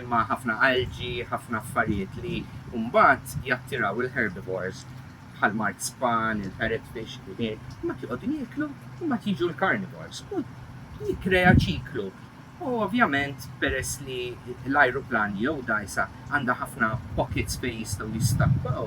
imma ħafna algi, ħafna affarijiet li mbagħad jattiraw il-herbivores bħal mard span, il-parrotfish, il-ħmir, mbagħad joqogħdu jieklu u mbagħad jiġu l-carnivores u jikkrea ċiklu. U ovvjament peress li l-ajruplani jew dgħajsa għandha ħafna pockets fejn jistgħu jistakkaw,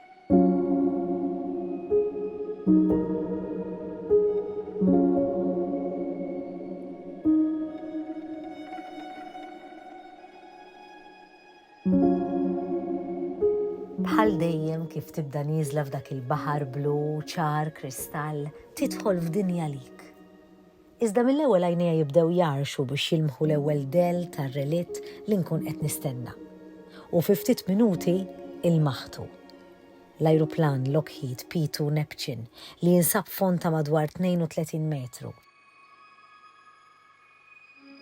Bħal dejjem kif tibda nieżla f'dak il-baħar blu ċar kristall, tidħol f'dinja lik. Iżda mill-ewwel għajnejja jibdew jgħarrxu biex jilmħu l-ewwel dell tar-relitt li nkun qed nistenna. U fi ftit minuti ilmaħtu. L-ajruplan Lockheed P-2 Neptune li jinsab fond ta' madwar 32 metru.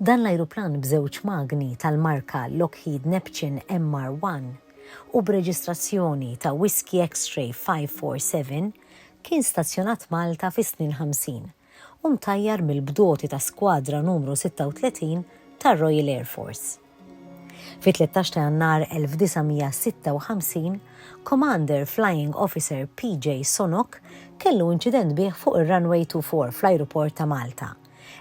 Dan l-ajruplan b'żewġ magni tal-marka Lockheed Neptune MR-1 u b'reġistrazzjoni ta' Whisky X-Ray 547 kien stazzjonat Malta fis-snin ħamsin u mtajjar mill-bdoti ta' Skwadra Numru 36 tar-Royal Air Force. Fit-13 ta' Jannar 1956, Commander Flying Officer PJ Sonok kellu inċident bih fuq ir-Runway 24 fl-Ajruport ta' Malta.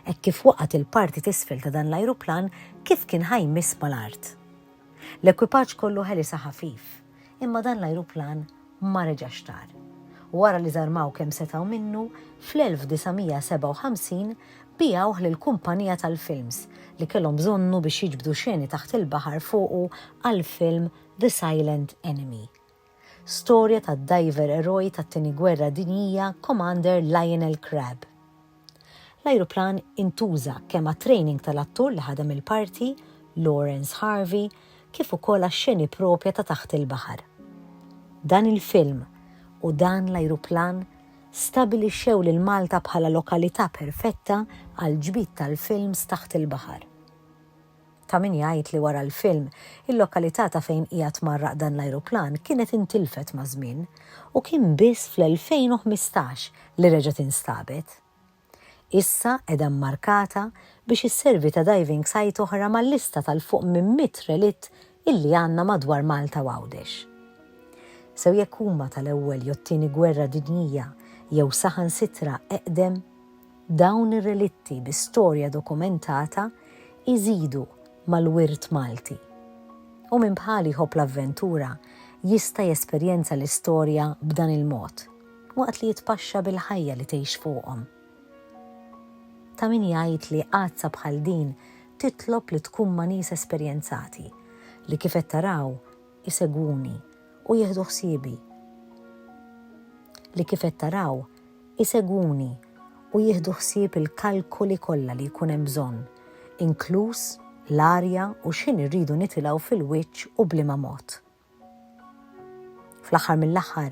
Hekk kif waqgħet il-parti t'isfel ta' dan l-ajruplan kif kien ħa jmiss mal-art. L-ekwipaġġ kollu ħelisha ħafif. Imma dan l-ajruplan ma reġax tar. Wara li żarmaw kemm setgħu minnu, fl-1957 biegħuh lil kumpanija tal-films li kellhom bżonnu biex jiġbdu xeni taħt il-baħar fuqu għall-film The Silent Enemy. Storja tad-dajver eroj tat-Tieni Gwerra Dinjija Commander Lionel Crabb. L-ajruplan intuża kemm għat-training tal-attur li ħadem il-parti, Laurence Harvey, kif ukoll għax-xeni proprja ta' taħt il-baħar. Dan il-film u dan l-ajruplan stabilixxew lil Malta bħala lokalità perfetta għall-ġbid tal-films taħt il-baħar. Ta' min jgħid li wara l-film, il-lokalità ta' fejn qiegħed mgħarraq dan l-ajruplan kienet intilfet maż-żmien u kien biss fl-2015 li reġgħet instabet. Issa qiegħda mmarkata biex isservi ta' diving site oħra mal-lista tal-fuq minn mitt relitt illi għandna madwar Malta u Għawdex. Sew jekk huma tal-ewwel jew t-tieni gwerra dinjija jew saħansitra eqdem, Dawn ir-relitti bi storja dokumentata jżidu mal-wirt Malti. U min bħali jħobb l-avventura jista' jesperjenza l-istorja b'dan il-mod, waqt li jitpaxxa bil-ħajja li tgħix fuqhom. Ta' min jgħid li għadsa bħal din titlob li tkun ma' nies esperjenzati, li kif qed taraw, isegwuni u jieħdu ħsiebi. Li kif qed taraw, isegwuni u jieħdu ħsieb il-kalkoli kollha li jkun hemm bżonn, inkluż l-arja u x'ħin irridu nitilgħu fil-wiċċ u b'liema mod. Fl-aħħar mill-aħħar,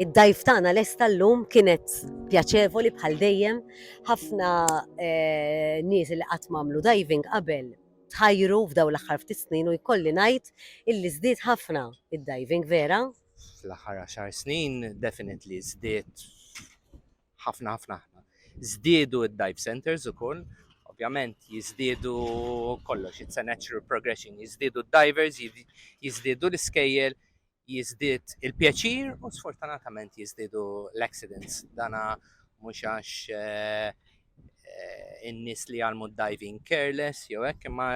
Id-dajf tagħna lesta llum kienet pjaċevoli bħal dejjem, ħafna eh, nies li qatt mamlu diving qabel tħajru f'daw l-aħħar ftit snin u jkolli ngħid illi żdied ħafna id-diving vera. Fl-aħħar 10 snin definitely żdied ħafna ħafna ħafna. Żdiedu d-dive centers ukoll, ovvjament jiżdiedu kollox, it's a natural progression, jiżdiedu d-divers, jiżdiedu l-iskejjel, jiżdied il-pjaċir u sfortunatament jiżdiedu l-accidents. Dana mhux għax eh, eh, in-nies li għalmu diving careless jew hekk imma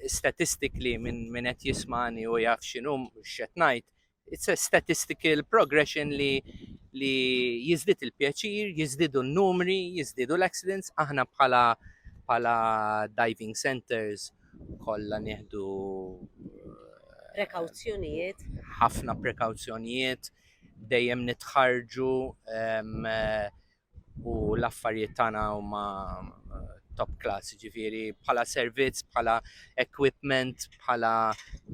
statistically minn min qed jismani u jaf x'inhum x'qed ngħid It's a statistical progression li li jizdit il-pjaċir, jizdidu n-numri, jizdidu l-accidents, aħna bħala bħala diving centers kollha nieħdu eh, prekawzjonijiet. Ħafna prekawzjonijiet, dejjem nitħarġu eh, u l-affarijiet tagħna huma top class, ġifiri bħala servizz, bħala equipment, bħala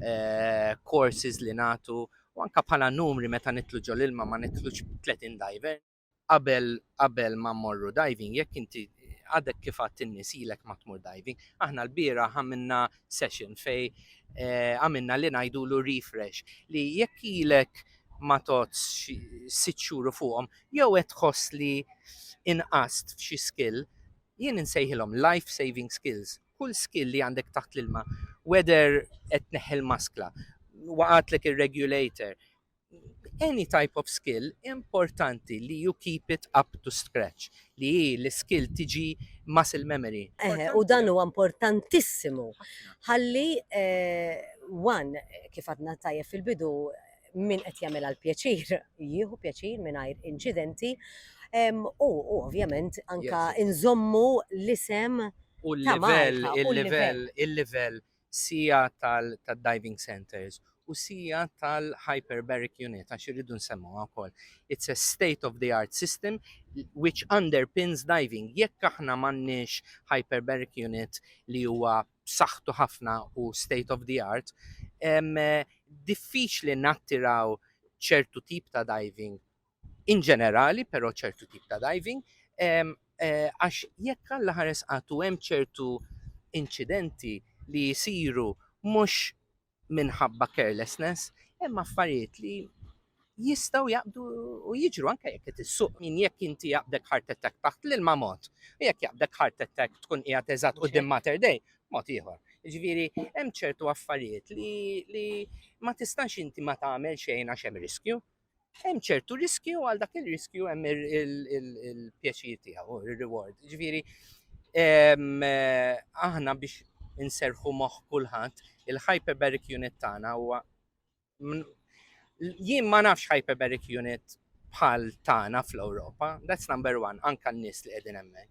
eh, courses li natu, u anka bħala numri meta nitlu ġol ilma ma nitlux 30 diver. Qabel qabel ma morru diving, jekk inti għadek kif għat in-nies ilek ma tmur diving, aħna l-bira għamilna session fej eh, għamilna li ngħidulu refresh li jekk ilek ma tots sitt xhur fuqhom jew qed tħoss li inqast f'xi skill, jien insejħilhom life saving skills. Kull skill li għandek taħt l-ilma, whether qed tneħħi l-maskla, waqatlek ir-regulator, any type of skill importanti li you keep it up to scratch, li hi l-skill tiġi muscle memory. Eħe, u dan huwa importantissimu. Ħalli, eh, one, kif għadna tajjeb fil-bidu, min qed jagħmilha l-pjaċir jieħu pjaċir mingħajr inċidenti u ovvjament anka nżommu l-isem u l-livell il-livell il-livell sija tal-diving centers u sija tal-hyperbaric unit għax irridu nsemmu wkoll. It's a state of the art system which underpins diving. Jekk aħna m'għandniex hyperbaric unit li huwa b'saħħtu ħafna u state of the art, diffiċli nattiraw ċertu tip ta' diving in ġenerali, però ċertu tip ta' diving, eh, għax jekk għalla ħares għatu hemm ċertu inċidenti li jisiru mhux minħabba carelessness, hemm affarijiet li jistaw jaqbdu u jiġru anke jekk qed issuq min jekk inti jaqbdek heart attack taħt l-ilma mod. U jekk jaqbdek heart attack tkun qiegħed eżatt qudiem Mater Dei, mod ieħor. Ġifieri hemm ċertu affarijiet li, li ma tistax inti ma tagħmel xejn għax hemm riskju. hemm ċertu riskju għal dak il-riskju hemm il-pjaċir tiegħu, il-reward. Ġifieri ehm, eh, aħna biex inserħu moħħ kulħadd, il-hyperbaric unit tagħna huwa jien ma nafx hyperbaric unit bħal tagħna fl-Ewropa, that's number one, anka n-nies li qegħdin hemmhekk.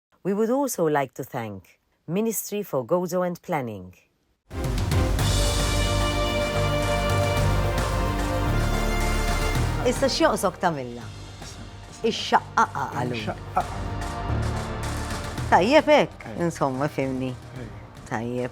We would also like to thank Ministry for Gozo and Planning. Issa x'joqsok tagħmilna? Ix-xaqqaqa għallu. Tajjeb hekk, insomma fimni. Tajjeb.